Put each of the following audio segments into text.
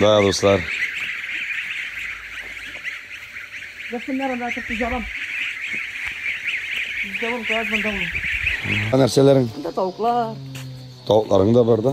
Да, дуслар. Нәрсәләрең? Тавыклар. Тавыкларың да бар да.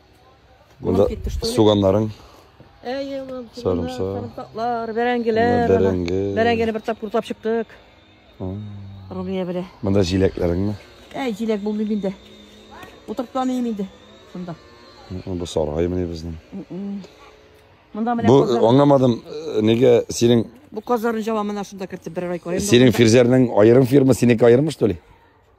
Монда суганнарың. Әйе, улым. Сарымсак. Сарымсаклар, бәрәңгеләр. Бәрәңге. Бәрәңгене бер тапкыр урлап чыктык. Румия белә. Монда җиләкләреңме? Әй, җиләк булмый миндә. Утырып та мин инде. Шунда. Бу саргай менә безнең. Монда менә Бу аңламадым, э, нигә синең Бу казларны җавамына шунда кертеп бер ай карыйм. Синең фирзәрнең аерым фирма, синеке аерымы, что ли?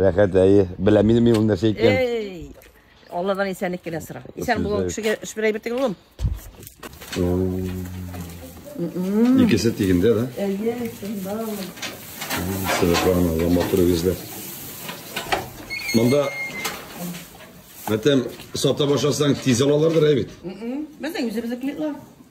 Рәхәт, әйе. Беләм инде мин ул нәрсә икән. Эй! Алладан исәнлек кенә сора. Исән Сезгә- булган кешегә эш бер әйбер түгел улым. Икесе тигендә, да? Әйе, шунда. Сәләханова, матур үзләр. Монда Мәтәм сата башласаң тиз алалардыр әй бит. Безнең үзебезнекеләр.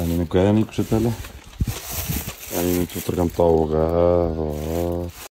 Әнинекә әни күрсәтә әле. Әнинең тутырган тавыгы.